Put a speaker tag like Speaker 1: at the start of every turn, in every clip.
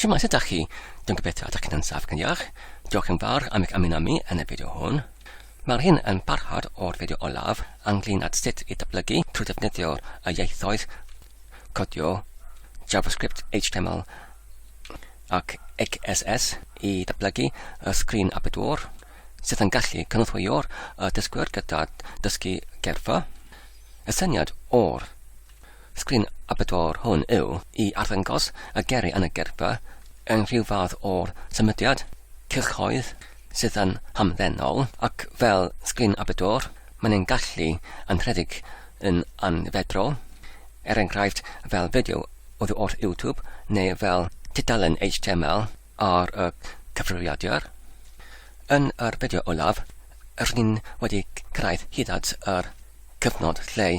Speaker 1: Shwmaes ydach chi? Dwi'n gobeithio ydych chi'n saff yn iach. Diolch yn fawr am eich ymuno mi yn y fideo hwn. Mae'r hyn yn barhad o'r fideo olaf ynglyn at sut i datblygu trwy ddefnyddio y ieithoedd codio JavaScript, HTML ac XSS i datblygu y sgrin abedwr sydd yn gallu cynorthwyo'r dysgwyr gyda dysgu gerffa. Y syniad o'r Sgrin y bedwar hwn yw i arddangos y gerri yn y gerpa yn rhyw fath o symudiad cylchoedd sydd yn hamddenol ac fel sgrin y bedwar, mae'n ein gallu yn rhedeg yn anfedrol, er enghraifft fel fideo oddi wrth YouTube neu fel tudalen HTML. ar y cyfrifiadur. Yn yr fideo olaf, rydyn wedi cyrraedd hyd at yr cyfnod lle,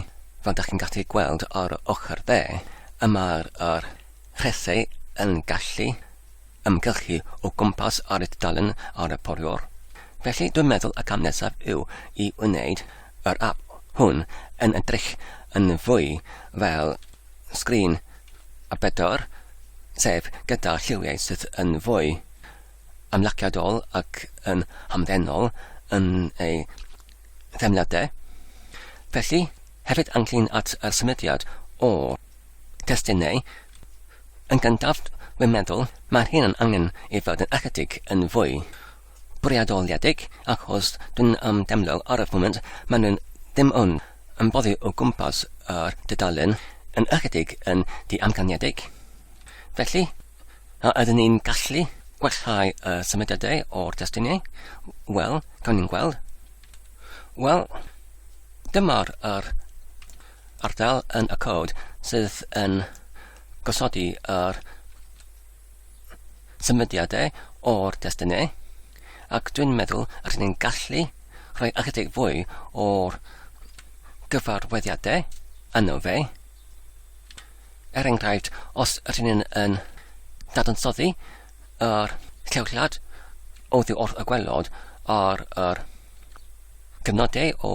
Speaker 1: fel da chi'n gallu gweld ar y ochr dde, y mae'r yr rhesau yn gallu ymgylchu o gwmpas ar y tudalen ar y poriwr. Felly dwi'n meddwl y cam nesaf yw i wneud yr app hwn yn edrych yn fwy fel Sgrin a bedwar, sef gyda lliwiau sydd yn fwy ymlaciadol ac yn hamddenol yn ei theimladau. Felly, hefyd ynglyn at y symudiad o destunau, yn gyntaf, wi'n meddwl, mae'r rhian angen ei fod yn ychydig yn fwy bwriadoliedig ac os dwi'n am demlo ar y foment, maen nhw'n dim ond yn boddi o gwmpas yr dudalen yn ychydig yn ddiamcaniedig. Felly, a ydyn ni'n gallu gwellhau y symudiadau o'r destunau? Wel, cawn ni'n gweld. Wel, dyma'r yr ardal yn y cod sydd yn gosodi yr symudiadau o'r destunau, ac dwi'n meddwl rydyn ni'n gallu rhoi ychydig fwy o'r gyfarwyddiadau yno fe. Er enghraifft, os rydyn ni'n yn dadansoddi yr llewllad oddi wrth y gwelod ar yr gyfnodau o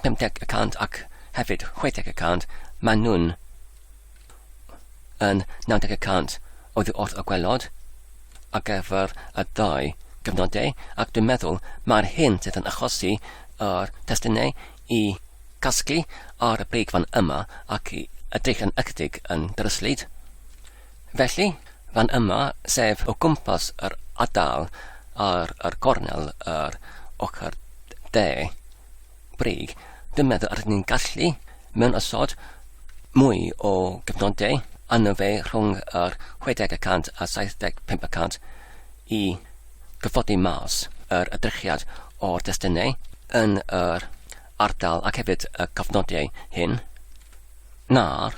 Speaker 1: 50 y cant ac hefyd 60 y cant, maen nhw'n yn 90 y cant oddi wrth y gwelod ar gyfer y ddau gyfnodau ac dwi'n meddwl mae'r hyn sydd yn achosi yr testunau i gasglu ar y brig fan yma ac i edrych yn ychydig yn dryslyd. Felly, fan yma, sef o gwmpas yr adal ar yr gornel yr ochr de, brig. Dwi'n meddwl yr ydyn ni'n gallu, mewn ysod, mwy o gyfnodau arno fe rhwng yr 60 y cant a 75 y cant i gyffodi mas yr edrychiad o'r destunau yn yr ardal ac hefyd y cofnodiau hyn na'r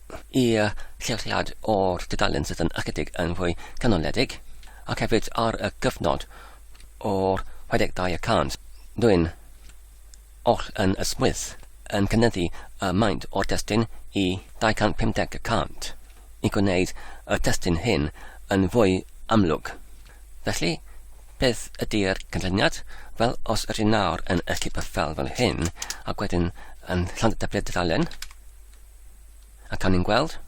Speaker 1: i'r lleoliad o'r dudalen sydd yn ychydig yn fwy canoledig, ac hefyd ar y gyfnod o'r 62 y cant, dwi'n oll yn ysmwyth yn cynyddu y maint o'r destun i 250 y cant, i gwneud y testun hyn yn fwy amlwg. Felly, beth ydy'r cynlluniad? Wel, os ydyn nawr yn ysgrifennu fel fel hyn, ac wedyn yn Llandyblu'r dudalen, A cawn ni'n gweld?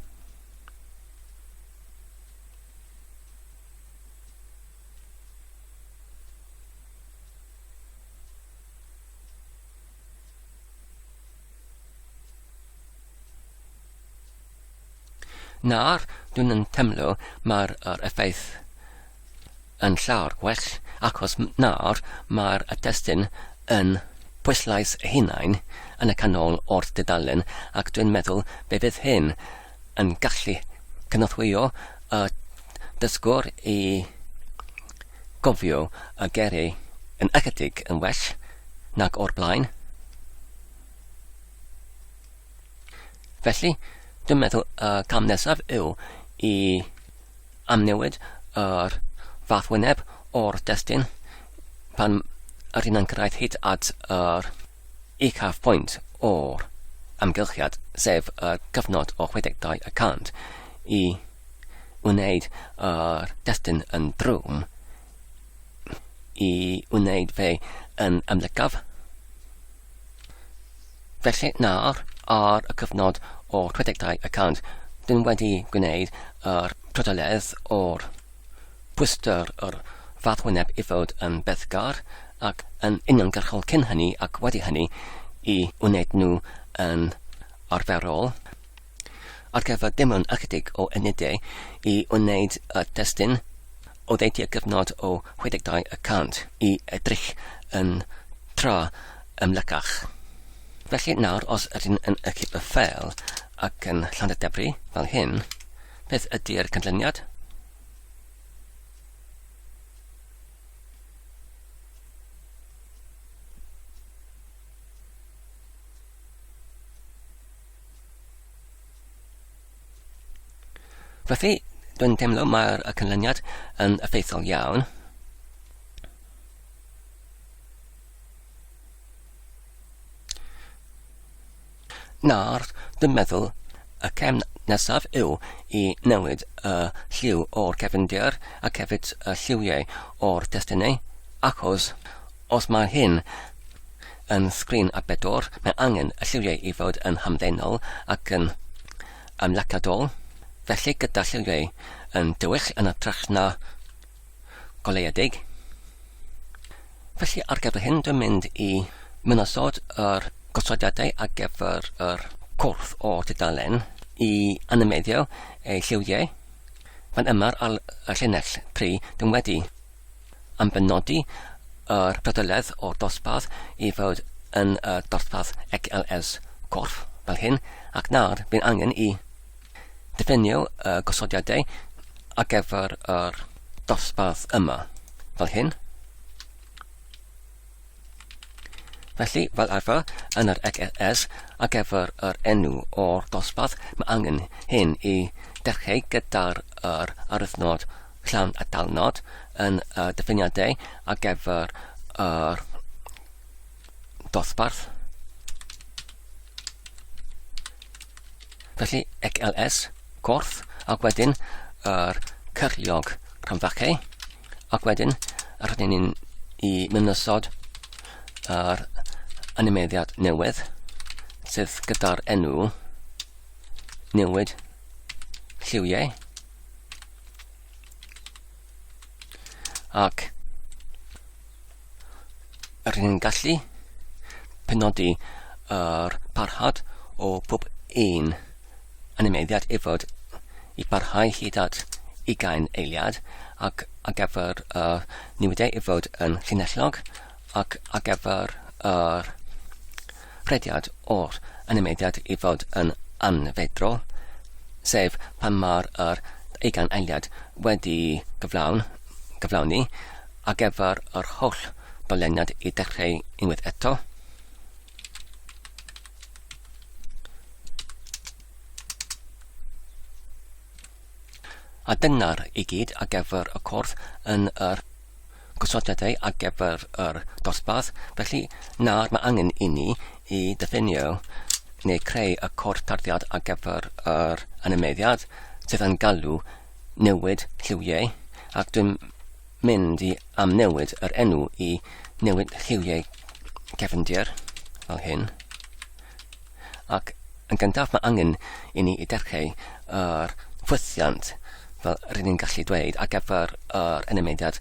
Speaker 1: Nawr, dwi'n yn temlo mae'r er effaith yn llawer gwell achos nawr mae'r testun yn pwyslais ei hunain yn y canol o'r dudalen ac dwi'n meddwl fe fydd hyn yn gallu cynorthwyo y dysgwr i gofio y geiriau yn ychydig yn well nag o'r blaen. Felly, dwi'n meddwl y uh, cam nesaf yw i amnewid yr uh, fath wyneb o'r destun pan yr hyn yn cyrraedd hyd at yr uh, uchaf pwynt o'r amgylchiad, sef y uh, cyfnod o 62 y cant, i wneud yr uh, destun yn drwm, i wneud fe yn ymlygaf, Felly nawr, ar y cyfnod o 62 y cant, dyn wedi gwneud yr trydylledd o'r pwystr yr fath wyneb i fod yn bethgar ac yn uniongyrchol cyn hynny ac wedi hynny i wneud nhw yn arferol. Ar gyfer dim ond ychydig o unedau i wneud y testun, oddeutu'r cyfnod o 62 y cant i edrych yn tra ymlycach. Felly nawr os ydyn yn ychydig o ffeil ac yn Llandadebri, fel hyn, beth ydy'r cynlluniad? Felly, dwi'n teimlo mae'r canlyniad yn effeithiol iawn. Nawr, dwi'n meddwl y cefn nesaf yw i newid y lliw o'r cefndir ac hefyd y lliwiau o'r testunau, achos os mae hyn Yn sgrin a bedwar, mae angen y lliwiau i fod yn hamddenol ac yn ymlaciadol, felly gyda lliwiau yn dywyll yn ytrach na goleuedig. Felly ar gyfer hyn dwi'n mynd i mynosod yr gosodiadau ar gyfer yr cwrdd o dudalen i animeiddio ei lliwiau fan yma ar y llinell 3 dwi'n wedi am benodi yr gydoledd o'r dosbarth i fod yn y dosbarth XLS corff fel hyn ac nawr bydd angen i ddifennu y gosodiadau ar gyfer yr dosbarth yma fel hyn. Felly, fel arfer, yn yr EGS ar gyfer yr enw o'r dosbarth, mae angen hyn i dechreu gyda'r yr aruthnod llawn a dalnod yn y diffiniadau ar gyfer yr dosbarth. Felly, EGLS, corff, ac wedyn yr cyrliog rhanfachau. Ac wedyn, rydyn ni'n i mynyssod yr animeiddiad newydd, sydd gyda'r enw newid lliwiau. Ac Rydyn ni'n gallu penodi yr parhad o pob un animeiddiad i fod i barhau hyd at ugain eiliad ac ar gyfer y newidau i fod yn llinellog ac ar gyfer yr rhediad o'r animeiddiad i fod yn anfedrol, sef pan mae'r yr ugain eiliad wedi gyflawn, gyflawni, ar gyfer yr holl doleniad i dechreu unwaith eto. A dyna'r i gyd ar gyfer y corff yn yr gosodiadau ar gyfer yr dosbarth, felly nawr mae angen inni i ddiffinio neu creu y cod tarddiad ar gyfer yr animeiddiad sydd yn galw newid lliwiau ac dwi'n mynd i amnewid yr enw i newid lliwiau cefndir fel hyn. Ac yn gyntaf mae angen i ni edrychu ar ffwythiant, fel rŷn ni'n gallu dweud, ar gyfer yr enemidiad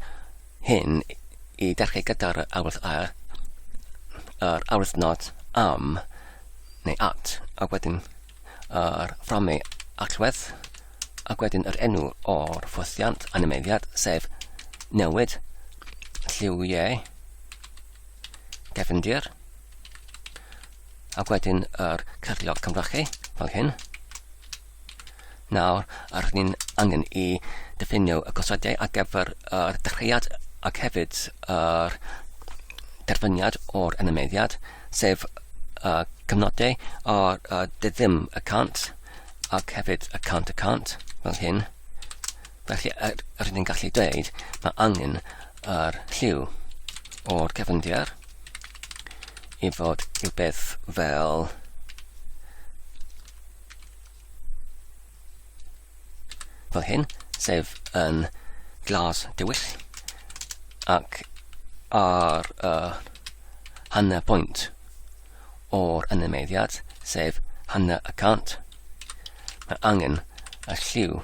Speaker 1: hyn i edrychu gyda'r awyrth a, yr awyrth not am neu at, a wedyn yr fframau allwedd, ac wedyn yr enw o'r ffwythiant animeiddiad, sef newid, lliwiau, gefndir, Ac wedyn yr cyflog camddrachu, fel hyn. Nawr, yr ni'n angen i ddiffinio y gosodiau ar gyfer yr dechreuad ac hefyd yr derfyniad o'r enymeddiad, sef y cyfnodau o'r uh, ddim y cant ac hefyd y cant y cant, fel hyn. Felly, er, er ni'n gallu dweud, mae angen yr lliw o'r cefndir i fod i'w beth fel fel hyn, sef yn glas dywyll ac ar uh, hanner pwynt o'r animeiddiad, sef hanner y cant. Mae angen y lliw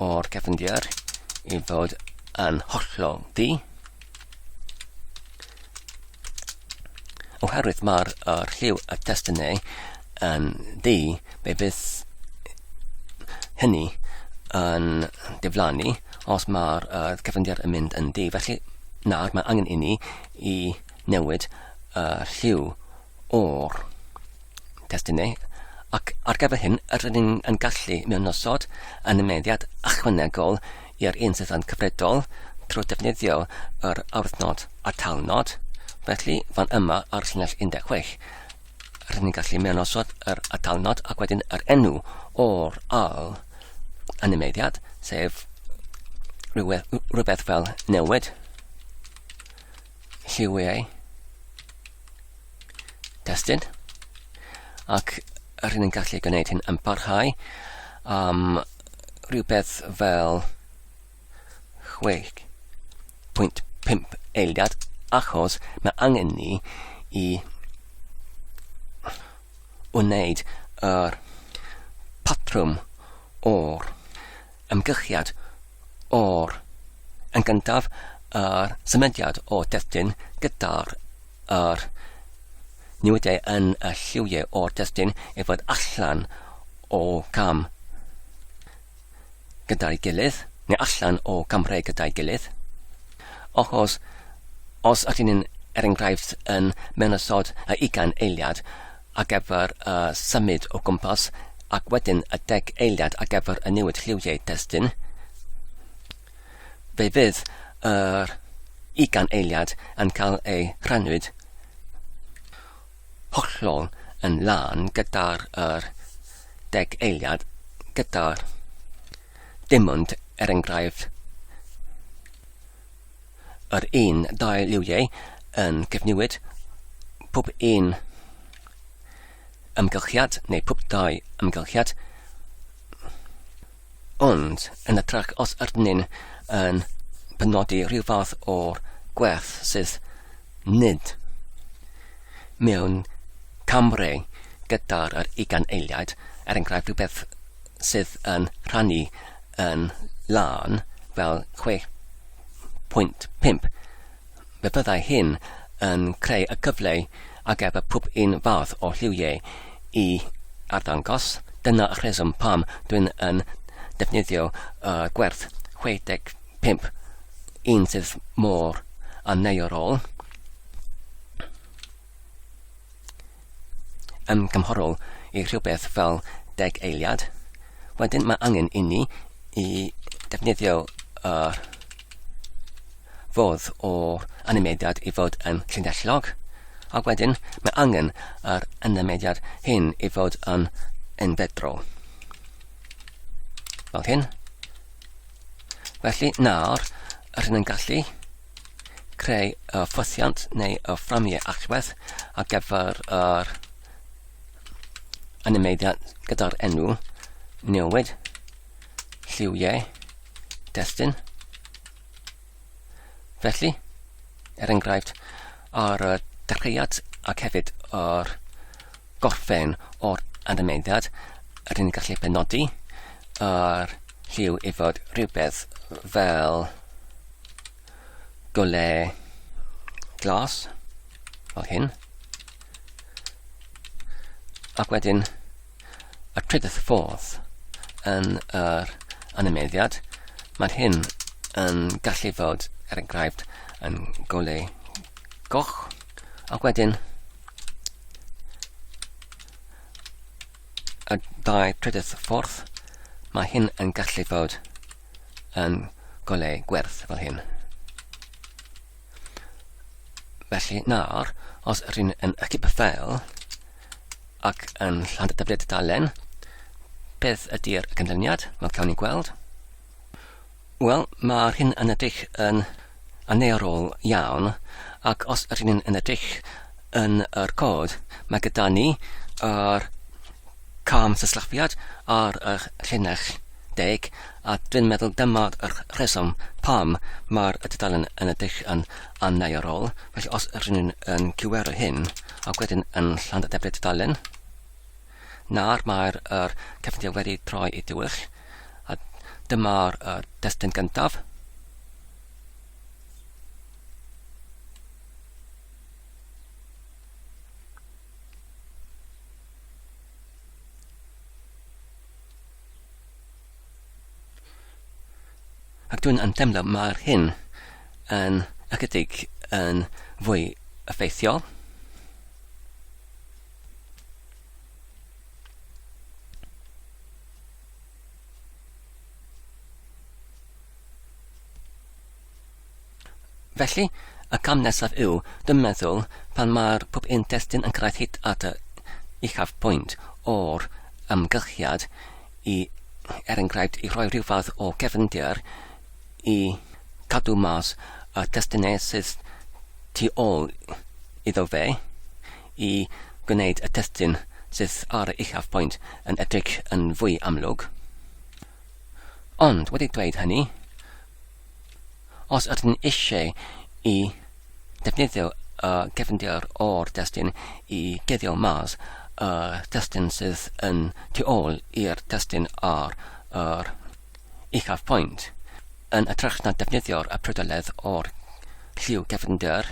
Speaker 1: o'r cefndir i fod yn hollol di. Oherwydd mae'r er lliw y testunau yn di, be bydd hynny yn diflannu os mae'r uh, cefndir yn mynd yn di. Felly nawr mae angen i ni i newid y lliw o'r testun neu, ac ar gyfer hyn, rydyn ni yn gallu mewnosod animeiddiad ychwanegol i'r un sydd yn cyfredol trwy defnyddio yr awyrthnod a'r talnod. Felly, fan yma ar llinell 16, rydyn ni'n gallu mewnosod yr atalnod ac wedyn yr enw o'r al animeiddiad, sef rhywbeth fel newid. lliwiau testyn ac rydyn ni'n gallu gwneud hyn yn parhau am rhywbeth fel 6.5 eiliad achos mae angen ni i wneud yr patrwm o'r ymgychiad or. Yn gyntaf, yr symudiad o destun gyda'r yr newidiau yn y lliwiau o'r destun i fod allan o gam gyda'i gilydd, neu allan o gamrau gyda'i gilydd. Achos, os ydyn ni'n er enghraifft yn mewn ysod y ugain eiliad, ar gyfer y symud o gwmpas ac wedyn y deg eiliad ar gyfer y newid lliwiau testun. Fe fydd yr ugain eiliad yn cael ei rhannwyd hollol yn lân gyda'r er deg eiliad gyda'r dim ond er enghraifft yr un dau liwiau yn cyfnewid pob un ymgylchiad neu pob dau ymgylchiad ond yn y trac os ydyn yn penodi rhyw fath o'r gwerth sydd nid mewn camre gyda'r yr ugain eiliad, er enghraifft rhywbeth sydd yn rhannu yn lân fel 6 1.5. Fe fyddai hyn yn creu y cyfle ag ef y pwb un fath o lliwiau i arddangos. Dyna y rheswm pam dwi'n yn defnyddio uh, gwerth 65 un sydd mor aneuorol. yn gymharol i rhywbeth fel deg eiliad. Wedyn mae angen inni i defnyddio uh, fodd o animediad i fod yn llinellog, ac wedyn mae angen yr animediad hyn i fod yn unfedrol. Fel hyn. Felly nawr, rydyn yn gallu creu y ffwythiant neu y fframiau allwedd ar gyfer yr animeiddiad gyda'r enw newid lliwiau destun. Felly, er enghraifft, ar y dechreuad ac hefyd yr gorffen o'r animeiddiad, yr un gallu penodi yr lliw i fod rhywbeth fel golau glas fel hyn. Ac wedyn y trydydd ffordd yn yr animeddiad, mae'r hyn yn gallu fod, er enghraifft, yn golau goch, ac wedyn y dau trydydd ffordd, mae hyn yn gallu fod yn golau gwerth fel hyn. Felly nawr, os rydyn yn ychydig ffeil ac yn lland dyfryd dalen, beth ydy'r canlyniad? Wel, cawn ni gweld. Wel, mae'r hyn yn edrych yn angerddol iawn ac os ydyn ni'n yn edrych yn yr cod, mae gyda ni yr cam syslafiad ar y llinell deg a dwi'n meddwl dyma'r rheswm pam mae'r dudalen yn edrych yn angerddol. Felly os ydyn ni'n yn cywero hyn ac wedyn yn Llanddebrydd Dudalen, Nawr mae'r yr cyffindau wedi troi i dywyll, a dyma'r yr destun gyntaf. Ac dwi'n yn teimlo mae'r hyn yn ychydig yn fwy effeithiol. Felly, y cam nesaf yw dy meddwl pan mae'r pwp intestyn yn cyrraedd hyd at y uchaf pwynt o'r ymgylchiad i er enghraifft i roi rhyw fath o gefndir i cadw mas y testynesydd tu ôl iddo fe i gwneud y testun sydd ar yr uchafbwynt yn edrych yn fwy amlwg. Ond wedi dweud hynny, os ydyn ni eisiau i defnyddio y gefndir o'r testun i guddio mas y testun sydd yn tu ôl i'r testun ar yr uchafbwynt, yn ytrach na defnyddio'r y prydoledd o'r lliw gefndir,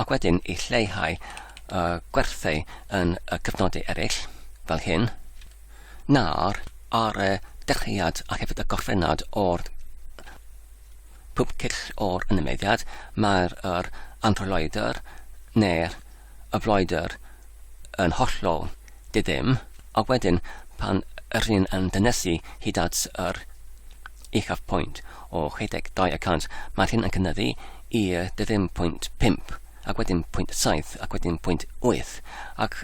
Speaker 1: ac wedyn i lleihau y gwerthau yn y cyfnodau eraill, fel hyn, nawr, ar y dechreuad a hefyd y gorffennad o'r pump cyll o'r ynnymeiddiad, mae'r yr anrhyloedr neu'r y floedr yn hollol di-ddim, ac wedyn pan yr hyn yn dynesu hyd at yr uchaf pwynt o 62 y cant, mae'r hyn yn cynyddu i 20.5 ac wedyn pwynt 7 ac wedyn pwynt 8 ac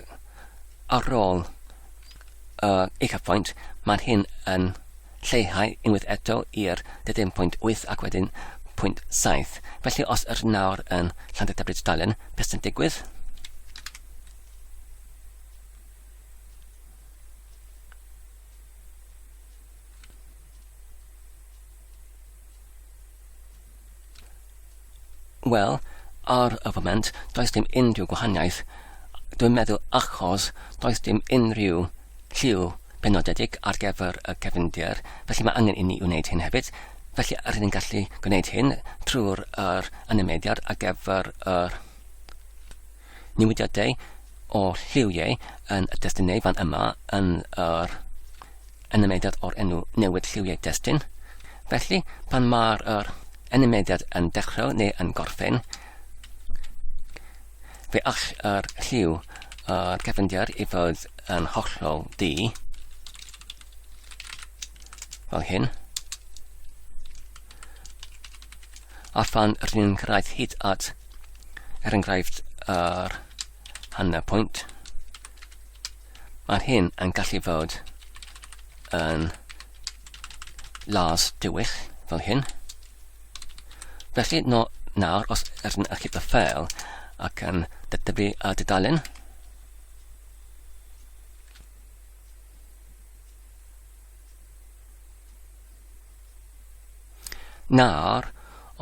Speaker 1: ar ôl uh, uchaf pwynt mae'r hyn yn lleihau unwaith eto i'r 20.8 ac wedyn pwynt 7. Felly os yr nawr yn Llandudebrid Dalen, beth sy'n digwydd? Wel, ar y foment, does dim unrhyw gwahaniaeth. Dwi'n meddwl achos does dim unrhyw lliw penodedig ar gyfer y cefndir, felly mae angen i ni wneud hyn hefyd. Felly, rydyn ni'n gallu gwneud hyn trwy'r er anymediad ar gyfer yr newidiadau o lliwiau yn y destun neu fan yma yn yr enymediad o'r enw newid lliwiau destun. Felly, pan mae'r yr enymediad yn dechrau neu yn gorffen, fe all yr lliw yr cefndir i fod yn hollol di, fel hyn. a phan rydyn ni'n cyrraedd hyd at, er enghraifft, yr hanner pwynt, mae hyn yn gallu fod yn las dywyll fel hyn. Felly, no, nawr, os rydyn ni'n achub y ffeil ac yn dydyfu a dydalen, Nawr,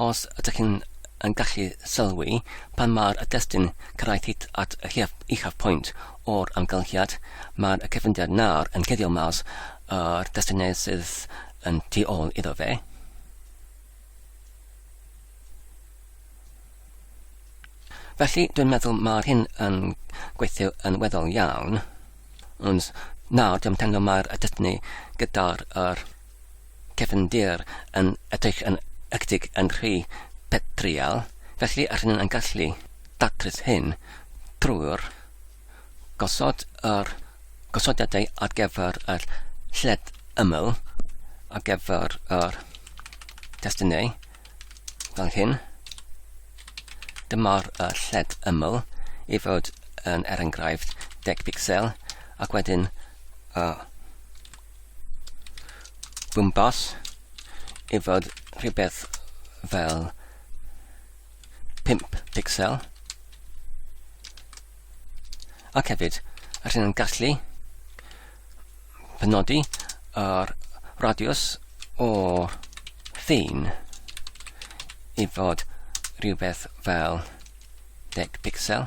Speaker 1: os ydych chi'n yn gallu sylwi, pan mae'r destun cyrraedd hyd at y uchaf, uchaf pwynt o'r amgylchiad, mae'r cyfyngiad nawr yn cuddio mas yr destyniau sydd yn tu ôl iddo fe. Felly, dwi'n meddwl mae'r hyn yn gweithio yn weddol iawn. Ond nawr, dwi'n teimlo mae'r destiny gyda'r er, cefndir yn edrych yn ychydig yn rhy petrol, felly yr hyn yn gallu datrys hyn drwy'r gosod yr gosodiadau ar gyfer yr lled ymyl ar gyfer yr testunau fel hyn. Dyma'r uh, lled ymyl i fod yn er enghraifft 10 pixel ac wedyn uh, gwmpas i fod rhywbeth fel 5 pixel ac hefyd rydyn nhw'n gallu penodi yr radius o ffin i fod rhywbeth fel 10 pixel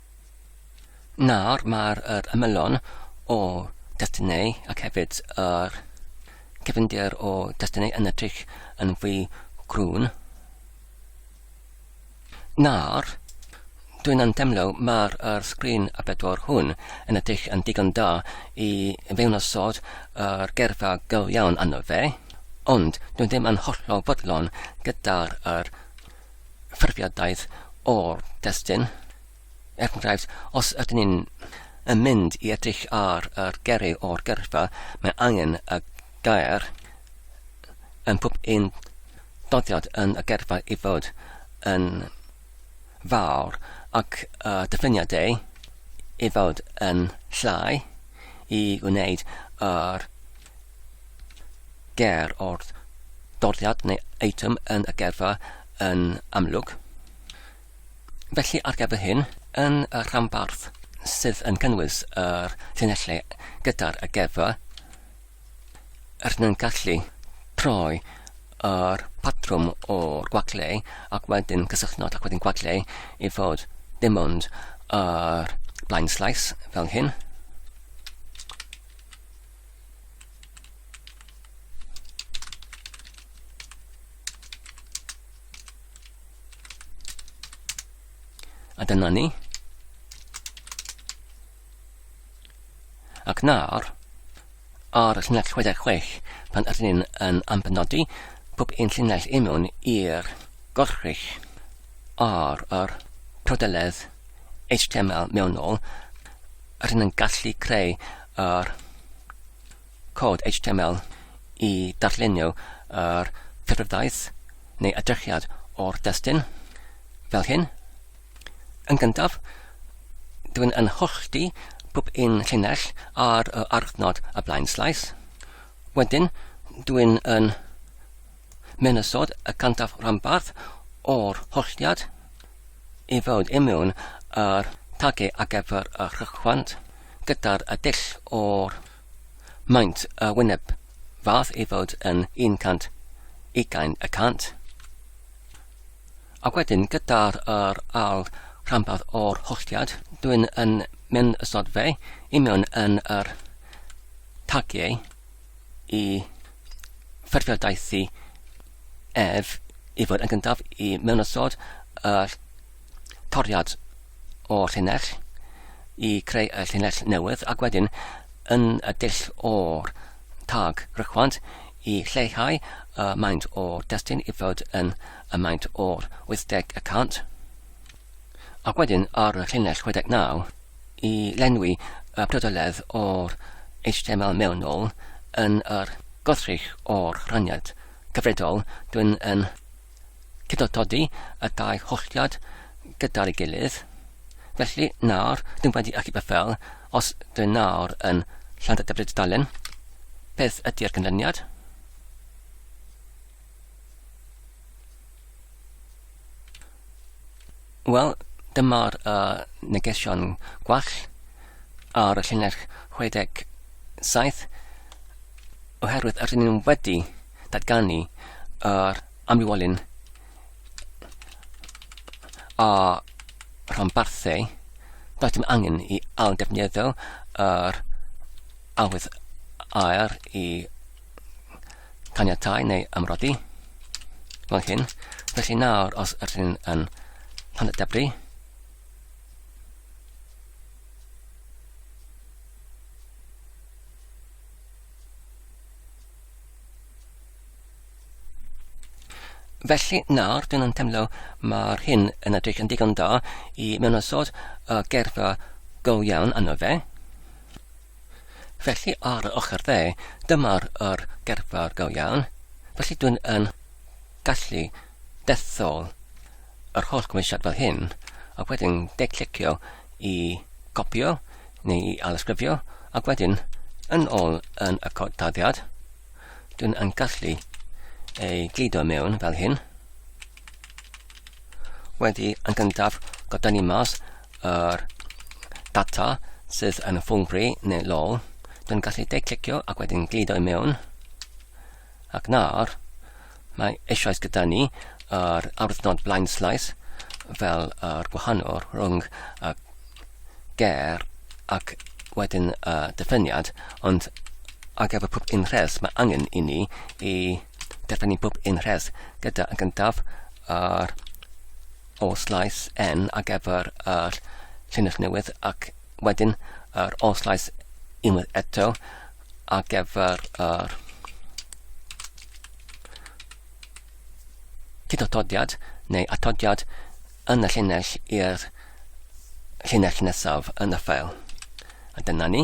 Speaker 1: Nawr mae'r yr ymylon o destunau ac hefyd yr cyfyndir o destunau yn edrych yn fwy grwn. Nawr, dwi'n antemlo mae'r yr sgrin a bedwar hwn yn edrych yn digon da i fewnosod yr gerfa gyl iawn arno fe, ond dwi'n ddim yn hollol fodlon gyda'r yr ffurfiadaeth o'r destun. Er enghraifft, os ydyn ni'n yn mynd i edrych ar yr geri o'r gyrfa, mae angen y gair yn pob un doddiad yn y gyrfa i fod yn fawr ac y diffiniad ei i fod yn llai i wneud yr ger o'r doriad neu eitem yn y gerfa yn amlwg. Felly ar gyfer hyn, yn y rhanbarth sydd yn cynnwys yr llinellau gyda'r y gerfa, rydyn yn gallu troi yr patrwm o'r gwaglau ac wedyn cysylltnod ac wedyn gwaglau i fod dim ond yr blaen slais fel hyn. A dyna ni. Ac nawr, ar y llinell 66, pan ydyn ni'n yn ambenodi pob un llinell i mewn i'r gorchrych ar yr prodeledd HTML mewnol, a rydyn yn gallu creu yr cod HTML i darllenio yr cyfrifiadaeth neu edrychiad o'r destun fel hyn. Yn gyntaf, dwi'n yn hollti pob un llinell ar y archnod y blaen slais. Wedyn, dwi'n yn Menysod y cyntaf rhanbarth o'r holliad i fod i mewn â'r tagu ar gyfer y rhychwant gyda'r dull o'r maint y wyneb fath i fod yn 120 y cant a wedyn gyda'r yr al rhanbarth o'r holliad dwi'n yn mynd ysod fe i mewn yn yr tagiau i ffurfio daith i ef i fod yn gyntaf i mewn ysod yr toriad o'r llinell i creu y llinell newydd ac wedyn yn y dull o'r tag rychwant i lleihau y maint o'r destun i fod yn y maint o'r 80 y cant ac wedyn ar y llinell 69 i lenwi y priodoledd o'r HTML mewnol yn yr gwrthrych o'r rhaniad cyfredol, dwi'n yn cydotodi y dau holliad gyda'i gilydd. Felly, nawr, dwi'n wedi achub y ffel, os dwi'n nawr yn Llandadefrydalen, beth ydy'r canlyniad? Wel, dyma'r uh, negesion gwall ar y llinell 67 oherwydd yr ni'n wedi datganu yr amlywolyn a rhanbarthau does dim angen i ail defnyddio yr awydd air i caniatau neu ymrodi fel hyn. Felly nawr, os ydych chi'n yn pan y debri, Felly nawr, dyn nhw'n teimlo mae'r hyn yn edrych yn digon da i mewn o sod y gerfa go iawn yno fe. Felly ar y ochr dde, dyma'r yr gerfawr go iawn. Felly dwi'n yn gallu dethol yr holl gymwysiad fel hyn, ac wedyn declicio i gopio neu i alysgrifio, ac wedyn yn ôl yn y cod dyddiad, dwi'n yn gallu ei gludo mewn fel hyn. Wedi yn gyntaf, gyda ni mas yr data sydd yn ffwngfri neu low. Dwi'n gallu de-clicio ac wedyn glido i mewn. Ac nawr, mae eisoes gyda ni yr awdurdod blaen slais fel yr gwahanol rhwng y ger ac wedyn y diffyniad, ond ar gyfer pob un rhes mae angen i ni i Dyfan ni bob un rhes gyda yn gyntaf ar ôl slais N ar gyfer yr llinell newydd ac wedyn yr ôl slais unwaith eto ar gyfer yr cydotodiad neu atodiad yn y llinell i'r llinell nesaf yn y ffeil. A dyna ni.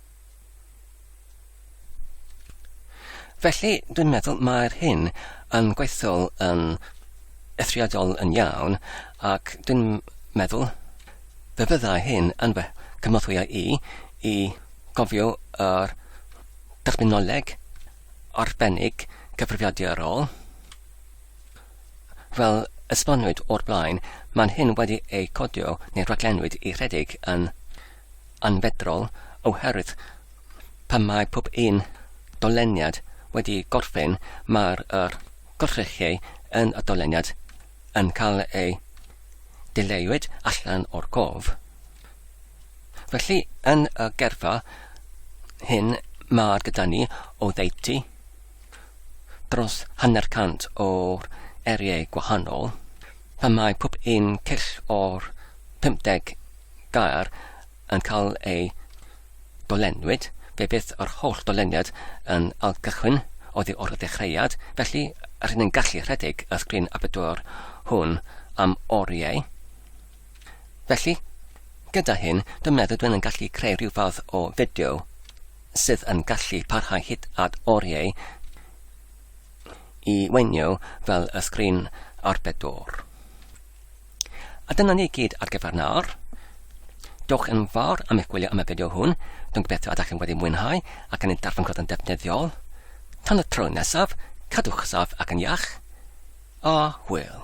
Speaker 1: Felly, dwi'n meddwl mae'r hyn yn gweithio'n yn eithriadol yn iawn, ac dwi'n meddwl fe fyddai hyn yn fy cynorthwyo i i gofio yr terminoleg arbennig cyfrifiadurol. Fel esbonwyd o'r blaen, mae'n hyn wedi ei codio neu raglenwyd i rhedeg yn anfeddrol oherwydd pan mae pob un doleniad wedi gorffen mae'r yr gorchrechiau yn y doleniad yn cael eu dileuwyd allan o'r cof. Felly yn y gerfa hyn mae'r gyda ni o ddeutu dros hanner cant o'r eriau gwahanol pan mae pob un cyll o'r 50 gair yn cael ei dolenwyd, fe fydd yr holl doleniad yn ailgychwyn oddi wrth y dechreuad, felly rydyn ni'n gallu rhedeg y sgrin Aperture hwn am oriau. Felly, gyda hyn, dwi'n meddwl dwi'n yn gallu creu rhyw fath o fideo sydd yn gallu parhau hyd at oriau i weinio fel y sgrin Aperture. A dyna ni gyd ar gyfer nawr. Diolch yn fawr am eich gwylio am y fideo hwn. Dwi'n gobeithio ydych chi'n wedi mwynhau ac yn ei darllen cod yn defnyddiol. Tan y tro nesaf, cadwch saf ac yn iach. A hwyl.